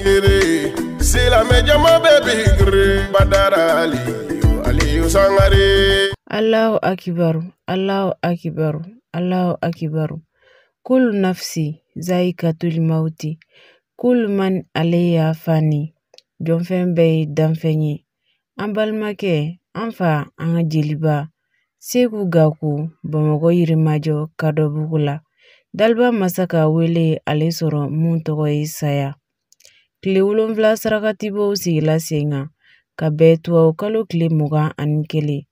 Gere, silamɛjama bɛ bi gere, badara ali, aliyu sangare. Alahu akibaru, Alahu akibaru, Alahu akibaru. Kulu nafsi zaikatul mauti. Kulu man alayha fani. Jɔnfɛn bɛɛ ye danfɛn ye. An balimakɛ, an fa, an ka jeliba. seku gaku bamakɔ yirimajɔ kadɔbugu la daliba masa ka wele ale sɔrɔ min tɔgɔ ye saya tile wolonfila sarakatibɔ o sigila sen kan ka bɛn tubabukalo tile mugan ani kelen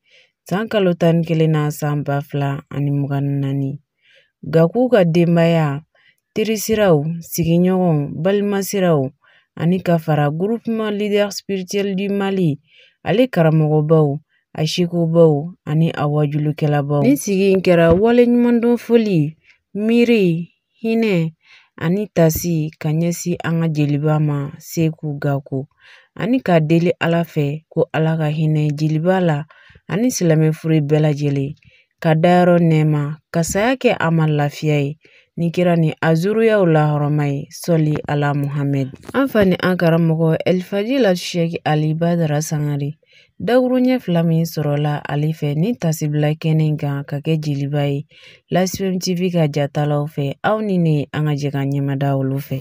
san kalo tan ni kelen na san ba fila ani mugan ni naani gaku ka denbaya terisiraw sigiɲɔgɔnw balima siraw ani ka fara groupement leader spirituel du mali ale karamɔgɔbaw a sekubaw ani a waajulikɛlabaw nin sigi in kɛra waleɲumandɔn foli miiri hinɛ ani tasi ka ɲɛsin an ka jeliba ma seku gaku ani k'a deli ala fɛ ko ala ka hinɛ jeliba la ani silamɛfure bɛɛ lajɛlen k'a dayɔrɔ nɛɛma ka saya kɛ a ma lafiya ye ni kira ni a zuruyaw lahɔrɔma ye sɔli ala muhamɛd an fa ni an karamɔgɔ ɛlifadila sɛki ali badara sangare dakuruɲɛ fila min sɔrɔla ale fɛ nin tasibila kɛnɛ kan k'a kɛ jeliba ye lasifɛn tv ka jatalaw fɛ aw ni ne an ka jɛ ka ɲɛmada olu fɛ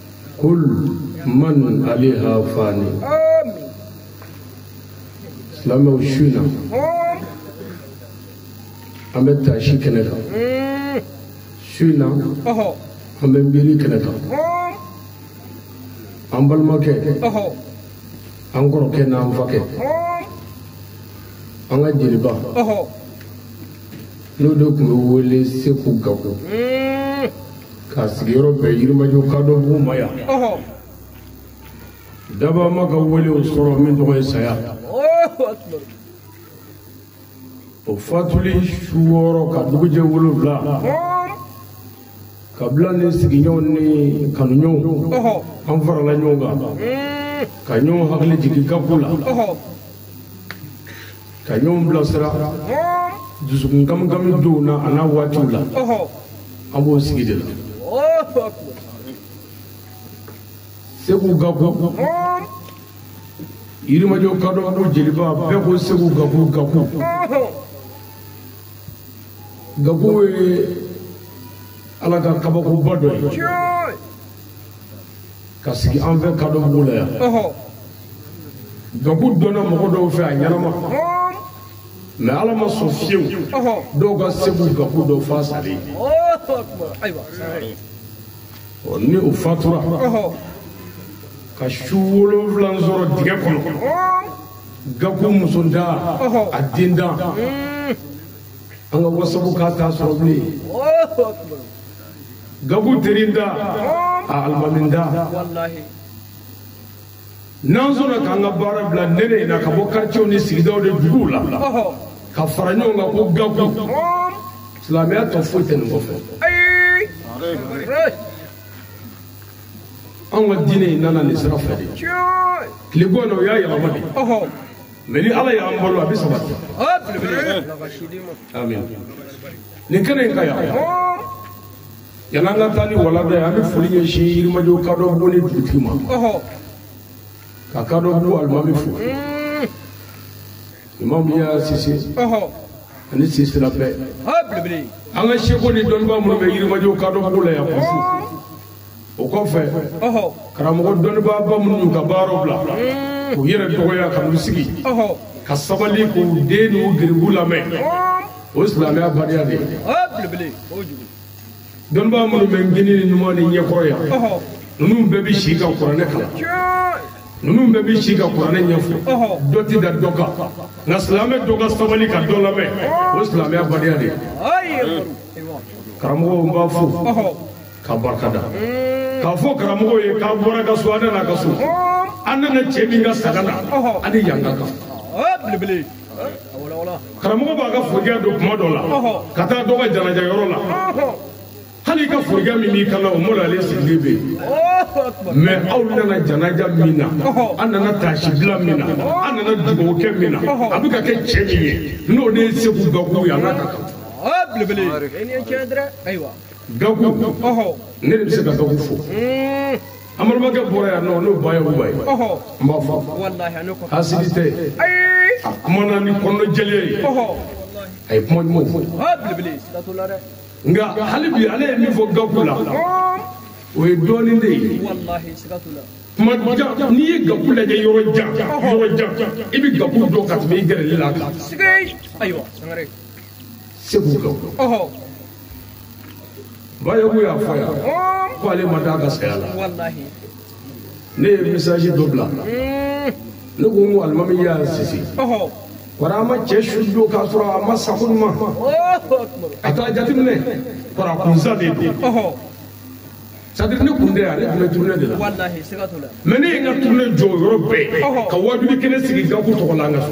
kul man alayha fani silamɛw su na an bɛ taasi kɛnɛ kan su na an bɛ miiri kɛnɛ kan an balimakɛ an kɔrɔkɛ n'an fakɛ an ka jeliba n'o de tun bɛ wele seku gaku k'a sigiyɔrɔ bɛ yirimajɔ kadɔbugu ma yan daba ma ka wele o sɔrɔ min tɔgɔ ye saya o fatuli su wɔɔrɔ ka dugujɛ wolonfila kabila ni sigiɲɔgɔn ni kanuɲɔgɔnw an farala ɲɔgɔn kan ka ɲɔgɔn hakili jigin gaku la ka ɲɔgɔn bilasira dusukun kamikami donw na an'a waatiw la an b'o sigi de la seku gaku yirimajɔ kadɔbugu jeliba bɛɛ ko seku gaku gaku gaku ye ala ka kabakoba dɔ ye ka sigi an fɛ kadɔbugu la yan gaku dɔnna mɔgɔ dɔw fɛ a ɲɛnama mɛ ala ma sɔn fiyewu dɔw ka seku gaku dɔn f'a salen ni o fatura ka su wolonwula sɔrɔ dingɛ kɔnɔ gaku muso da a den da an ka wasabu k'a t'a sɔrɔ bilen gaku terin da a almamin da n'an sɔnna k'an ka baara bila nɛnɛ in na ka bɔ karicew ni sigidaw de duguw la ka fara ɲɔgɔn kan ko gaku silamɛya tɔ foyi tɛ nin kɔfɛ anw ka diinɛ in nana nin sira fɛ de tile bɔ na o y'a yɛlɛma de mɛ ni ala y'an balo a bɛ sabati amin nin kɛnɛ in kan yan yan'an ka taa ni walanda ye an bɛ foli ɲɛsin yirimajo kadɔbugu ni dugutigi ma ka kadɔbugu alimami fo imamu yaya sise ani sisela bɛɛ an ka seku ni dɔnnibaa minnu bɛ yirimajo kadɔbugu la yan ko fo o kɔfɛ karamɔgɔ dɔnnibaaba minnu y'u ka baaraw bila k'u yɛrɛ dɔgɔya ka n'u sigi ka sabali k'u den n'u garibu lamɛn o ye silamɛya badenya de ye dɔnnibaa minnu bɛ kinin ni numan ni ɲɛkɔrɔ yan ninnu bɛɛ bɛ se ka kuranɛ kalan ninnu bɛɛ bɛ se ka kuranɛ ɲɛfɔ dɔ tɛ da dɔ kan nka silamɛ dɔ ka sabali ka dɔ lamɛn o ye silamɛya badenya de ye karamɔgɔw n b'a fo ka barika da k'a fɔ karamɔgɔ ye k'a bɔra ka so an nana ka so an nana cɛ min ka sanga la an ni yan ka kan karamɔgɔ b'a ka forokɛ don kuma dɔ la ka taa dɔ ka janaja yɔrɔ la hali i ka forokɛ min b'i kan na o mɔla ale sigilen bɛ yen mɛ aw nana janaja min na an nana taasibila min na an nana dugawukɛ min na a bɛ ka kɛ cɛ min ye n'o de ye seku gaku ye a n'a ka kan gaku ne de bɛ se ka gaku fo amadumakɛ bɔra yan nɔ n'o ba ye uba ye n b'a fɔ hasidi tɛ a kumana ni kɔnɔjɛlenya ye a ye kuma ɲumanw fɔ nka hali bi ale ye min fɔ gaku la o ye dɔɔnin de ye kuma jan n'i ye gaku lajɛ yɔrɔ jan yɔrɔ jan i bɛ gaku dɔn ka tɛmɛ i gɛrɛlen a la kan segu kan bayogo y'a fɔ yan ko ale ma da a ka saya la ne ye misaji dɔ bila ne ko n ko alimami y'a sisi kɔrɔ a ma cɛ su don k'a sɔrɔ a ma sa ko ɲuman a t'a jateminɛ kɔrɔ a kunsa de don sadiri ne kun tɛ yan ne tun bɛ turune de la mɛ ne ye n ka turune jɔ o yɔrɔ bɛɛ ka wajuli kɛnɛ sigi gaku tɔgɔ la an ka so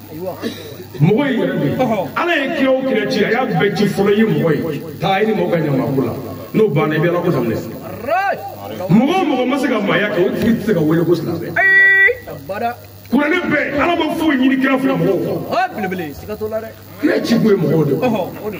mɔgɔ in yɛrɛ de ala ye kira o kira ci a y'a bɛɛ ci fɔlɔ i ye mɔgɔ ye taa i ni mɔgɔ ka ɲamako la n'o banna i bɛ ala ko daminɛ mɔgɔ o mɔgɔ ma se ka maaya kɛ o tigi tɛ se ka wele ko silamɛ kuranɛ bɛɛ ala ma foyi ɲini kira fɛ mɔgɔw kɔ kira ci kun ye mɔgɔw de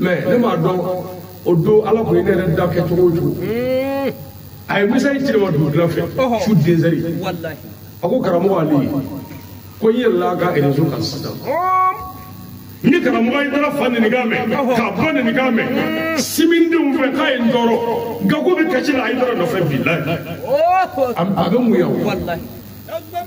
mɛ ne m'a dɔn o don ala kun ye ne yɛrɛ da kɛ cogo o cogo a ye misaji ci ne ma dugutila fɛ su dezɛri a ko karamɔgɔ ali ko n yɛlɛla ka erezo kan sisan n ye karamɔgɔ ayidara fa nɛnikan mɛn k'a ba nɛnikan mɛn silamɛdenw fɛ k'a ye n tɔɔrɔ gaku bɛ kasi la ayidara nɔfɛ bilahi a bɛ mun yan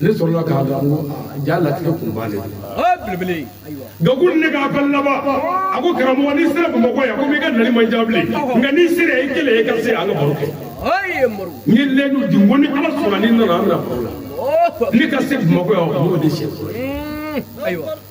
ne sɔrɔla k'a dɔn ko ja latigɛ kun b'ale gaku ne k'a fɛn laban a ko karamɔgɔ n'i sera bamakɔ yan ko n'i ka nali man jan bilen nka n'i sera i kelen i ka se an ka baro kɛ n ye lɛdu di n ko ni ala sɔnna ni n nana an bɛna baro la ne ka se bamakɔ yan o y'o de siɲɛ fɔlɔ ye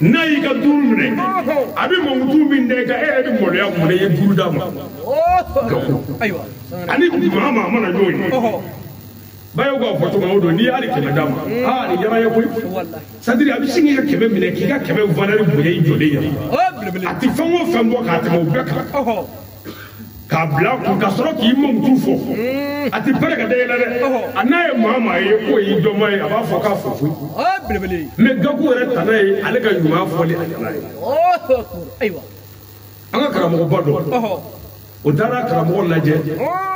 n'a y'i ka duuru minɛ a bɛ mankutu min da i kan e yɛrɛ bɛ maloya mun na i ye duuru d'a ma ani maa maa mana ɲɔgɔn ye bayo k'a fɔ cogo o don n'i ye hali kɛmɛ d'a ma aa nin yɛrɛ ye koyi sadiri a bɛ sin k'i ka kɛmɛ minɛ k'i ka kɛmɛ valɛri bonya i jɔlen ye a tɛ fɛn o fɛn bɔ k'a tɛmɛ o bɛɛ kan k'a bila a kun ka sɔrɔ k'i mankutu fɔ a tɛ pɛrɛ k'a da yɛlɛ dɛ a n'a ye maa maa ye k'o y'i dɔnbaa ye a b'a fɔ k'a fɔ koyi mɛ gaku yɛrɛ tana ye ale ka ɲuman fɔli a tana ye an ka karamɔgɔba dɔ o taara karamɔgɔ lajɛ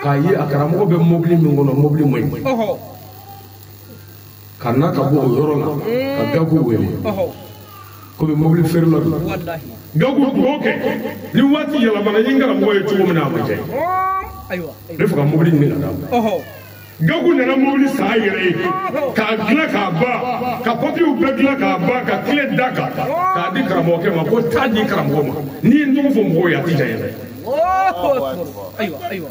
k'a ye a karamɔgɔ bɛ mobili min kɔnɔ mobili man ɲi ka na ka bɔ o yɔrɔ la ka gaku wele komi mobili feerela don gaku dugawu kɛ ni waati yɛlɛmana n ye n karamɔgɔ ye cogo min na a ma diya n ye n b'a fɛ ka mobili ɲini ka d'a ma gaku nana mobili san a yɛrɛ ye k'a dilan k'a ban ka papiyew bɛɛ dilan k'a ban ka kile da a kan k'a di karamɔgɔkɛ ma ko taa a di karamɔgɔ ma n'i ye n tɔgɔ fɔ mɔgɔw ye a ti diya n ye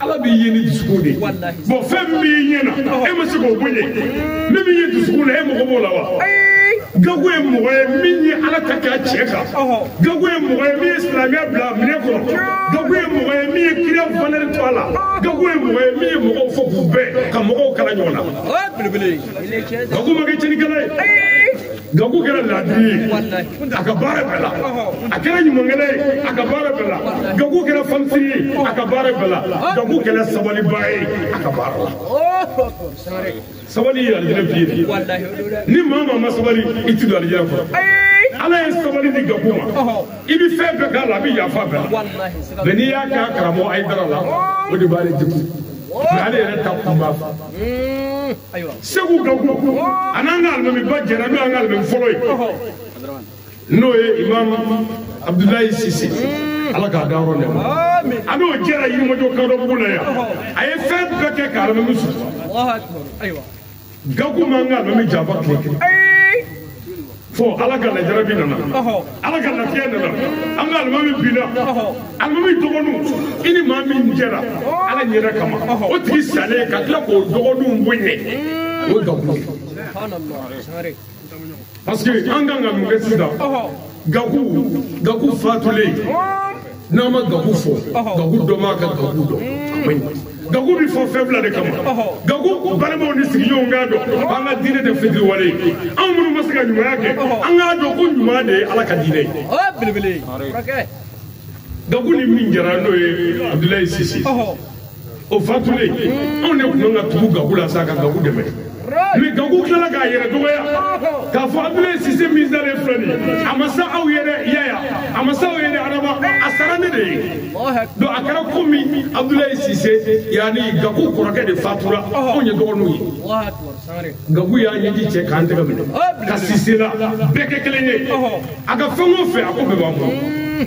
ala b'i ye ni dusukun de ye bɔn fɛn min b'i ɲɛ na e ma se k'o bɔ yen min b'i ye dusukun na e mago b'o la wa gaku ye mɔgɔ ye min ye ala ta kɛ a cɛ kan gaku ye mɔgɔ ye min ye silamɛya bila a minɛ kɔrɔ gaku ye mɔgɔ ye min ye kira valɛri to a la gaku ye mɔgɔ ye min ye mɔgɔw fɔ k'u bɛɛ ka mɔgɔw kala ɲɔgɔn na gaku ma kɛ cɛnikɛla ye gaku kɛra laadiri ye a ka baara bɛɛ la a kɛra ɲumankɛla ye a ka baara bɛɛ la gaku kɛra fanisiri ye a ka baara bɛɛ la gaku kɛra sabaliba ye a ka baara la sabali ye alijinɛ biye ye ni maa maa ma sabali i ti don alijinɛ kɔnɔ ala ye sabali di gaku ma i bɛ fɛn bɛɛ k'a la a bɛ yafa bɛɛ la mɛ n'i y'a kɛ a karamɔgɔ ayidara la o de b'ale degun mɛ ale yɛrɛ ta kunba seku gaku a n'an ka alimamiba jɛra n'o y'an ka alimami fɔlɔ ye n'o ye imam abudulayi sise ala k'a da yɔrɔ nɛɛma a n'o jɛra yirimajɔ kadɔbugu la yan a ye fɛn bɛɛ kɛ ka alimami sutura gaku m'an ka alimami janfa tile kelen fɔ ala ka lajarabi nana ala ka lafiya nana an ka alimami binna alimami dɔgɔninw i ni maa min jɛra ala ɲɛda kama o tigi salen ka tila k'o dɔgɔninw bonya o gaku parce que an kan ka mun kɛ sisan gaku gaku fatulen n'a ma gagu fɔ gagu dɔ m'a ka gagu dɔn a man ɲi gagu bɛ fɔ fɛn fila de kama gagu balimaw ni sigiɲɔgɔnw k'a dɔn an ka diinɛ tɛ fitiriwale ye anw minnu ma se ka ɲumanya kɛ an k'a dɔn ko ɲuman de ye ala ka diinɛ ye gagu ni min jɛra n'o ye abudulayi sise o fatulen anw de tun ka tugu gaku la sa ka gaku dɛmɛ mɛ gaku tilala k'a yɛrɛ dɔgɔya k'a fɔ abdulayi sise min dalen filɛ nin a ma sa aw ye dɛ yaya a ma sa aw ye dɛ araba a sara ne de ye donc a kɛra komi abdulayi sise yanni gaku kɔrɔkɛ de fatura anw ye dɔgɔninw ye gaku y'a ɲɛji cɛ k'an tɛgɛ minɛ ka sise la bɛɛ kɛ kelen ye a ka fɛn o fɛn a ko bɛɛ b'an bolo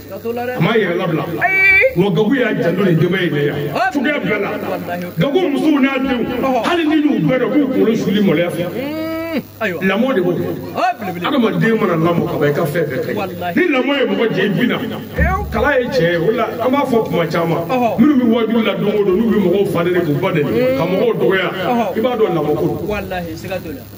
a m'a yɛrɛ labila wa gaku y'a janto nin denbaya in de yan cogoya bɛɛ la gaku musow n'a denw hali n'i y'u bɛɛ dɔn k'u kunkolo suli maloya fɛ lamɔ de b'o kɛ adamaden mana lamɔ ka ban i ka fɛn bɛɛ kɛ ni lamɔ ye mɔgɔ jɛ i bi na kala ye cɛ ye o la an b'a fɔ kuma caman minnu bɛ wajuli la don o don n'u bɛ mɔgɔw fa nɛni k'u ba nɛni ka mɔgɔw dɔgɔya i b'a dɔn lamɔ ko don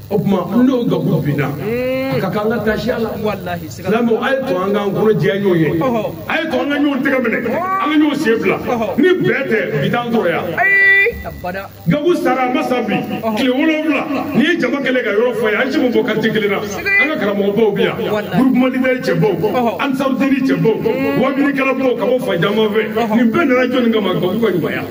o tuma n'o gaku binna a ka kan an ka taasi a la silamɛw a ye to an k'an kɔnɔ jɛya ɲɔgɔn ye a ye to an ka ɲɔgɔn tɛgɛ minɛ an ka ɲɔgɔn sen fila ni bɛɛ tɛ bi t'an sɔrɔ yan gaku sara a ma sa bi tile wolonwula n'i ye jama kɛlen ka yɔrɔ fa ye an si ma bɔ quartier kelen na an ka karamɔgɔbaw bɛ yan groupement leader cɛbaw ansarudini cɛbaw wajulikɛlabaw ka bɔ fan caman fɛ nin bɛɛ nana jɔni kama gaku ka ɲumanya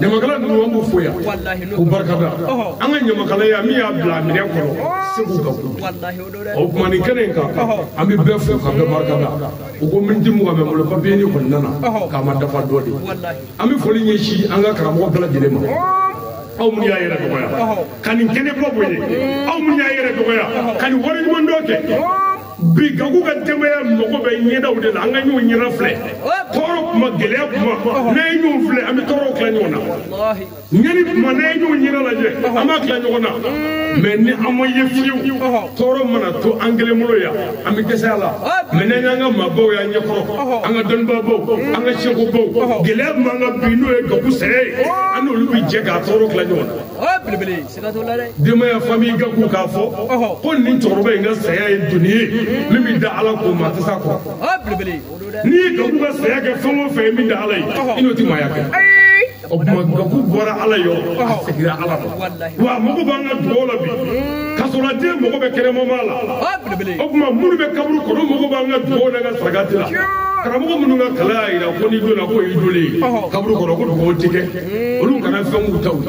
ɲamakala ninnu an b'u fo yan k'u barikada an ka ɲamakalaya min y'a bila minɛn kɔnɔ seku gaku o tuma nin kɛnɛ in kan an bɛ bɛɛ fo ka bɛɛ barikada u ko miniti mugan bɛ n bolo papiye ni kɔni nana k'a ma dafa dɔ de an bɛ foli ɲɛsin an ka karamɔgɔ bɛɛ lajɛlen ma aw minnu y'a yɛrɛ dɔgɔya ka nin kɛnɛba bonya aw minnu y'a yɛrɛ dɔgɔya ka nin waleɲumandɔn kɛ bi gaku ka denbaya mago bɛ ɲɛdaw de la an ka ɲɔgɔn ɲɛda filɛ tɔɔrɔ kuma gɛlɛya kuma n'an ye ɲɔgɔn filɛ an bɛ tɔɔrɔw tila ɲɔgɔn na ɲɛni kuma n'an ye ɲɔgɔn ɲɛda lajɛ an b'a tila ɲɔgɔn na mɛ ni an ma ye fiyewu tɔɔrɔ mana to an kelen bolo yan an bɛ dɛsɛ a la mɛ n'an y'an ka maabaw y'an ɲɛkɔrɔ an ka dɔnnibaabaw an ka sekobaw gɛlɛya min b'an kan bi n'o ye gaku saya ye an n'olu bɛ jɛ k'a tɔɔrɔ tila ɲɔgɔn na denbaya famille gaku k'a fɔ ko nin cɛkɔrɔba in ka saya ye doni ye min bɛ da ala ko maa tɛ s'a kɔrɔ n'i ye gaku ka saya kɛ fɛn o fɛn min da ala ye i n'o tɛ maaya kɛ o tuma gaku bɔra ala yɔrɔ a segira ala ma wa mago b'an ka dugaw la bi ka sɔrɔ den mago bɛ kɛnɛmama la o tuma minnu bɛ kaburu kɔnɔ mago b'an ka dugaw n'an ka sarakati la karamɔgɔ minnu ka kalan y'a jira ko n'i donna k'o y'i donlen ye kaburu kɔnɔ ko dugaw tɛ kɛ olu kana fɛn k'u taw ye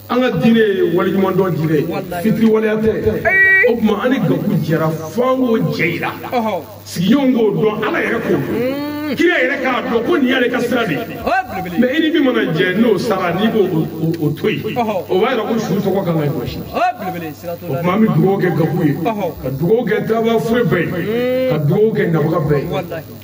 an ka diinɛ ye waleɲumandɔn diinɛ ye fitiriwaleya tɛ o tuma an ni gaku jɛra fo an k'o jɛ yira sigiɲɔgɔn k'o dɔn ala yɛrɛ k'o dɔn kira yɛrɛ k'a dɔn ko nin y'ale ka sira de ye mɛ i ni min mana jɛ n'o sara n'i b'o to yen o b'a yira ko su tɔgɔ kan ka jɔsi o tuma an bɛ dugawu kɛ gaku ye ka dugawu kɛ taabaa fure bɛɛ ye ka dugawu kɛ nabaga bɛɛ ye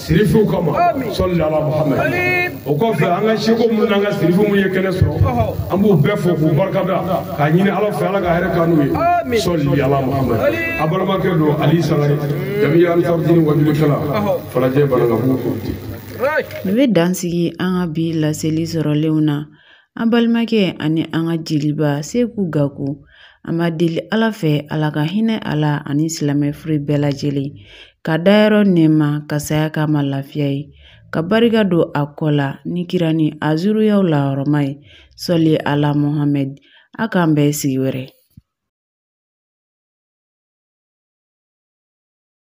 sirifiw kama sɔli ala muhamad o kɔfɛ an ka seku minnu n'an ka sirifu minnu ye kɛnɛ sɔrɔ an b'u bɛɛ fo k'u barikada k'a ɲini ala fɛ ala ka hɛrɛ k'an n'u ye sɔli ala muhamad a balimakɛ don ali sangare jamiya ansarudini wajulikɛla falajɛ banankabugu kɔmite n bɛ dansigi an ka bi laseli sɔrɔlenw na An balimakɛ ani an ka jeliba Seku Gaku, an b'a deli Ala fɛ Ala ka hinɛ a la ani silamɛ fure bɛɛ lajɛlen, ka dayɔrɔ nɛɛma, ka saya k'a ma lafiya ye, ka barika don a kɔ la ni kira ni a zuriyaw lahɔrɔma ye, sɔli Ala Mohamɛdi, a k'an bɛɛ sigi wɛrɛ.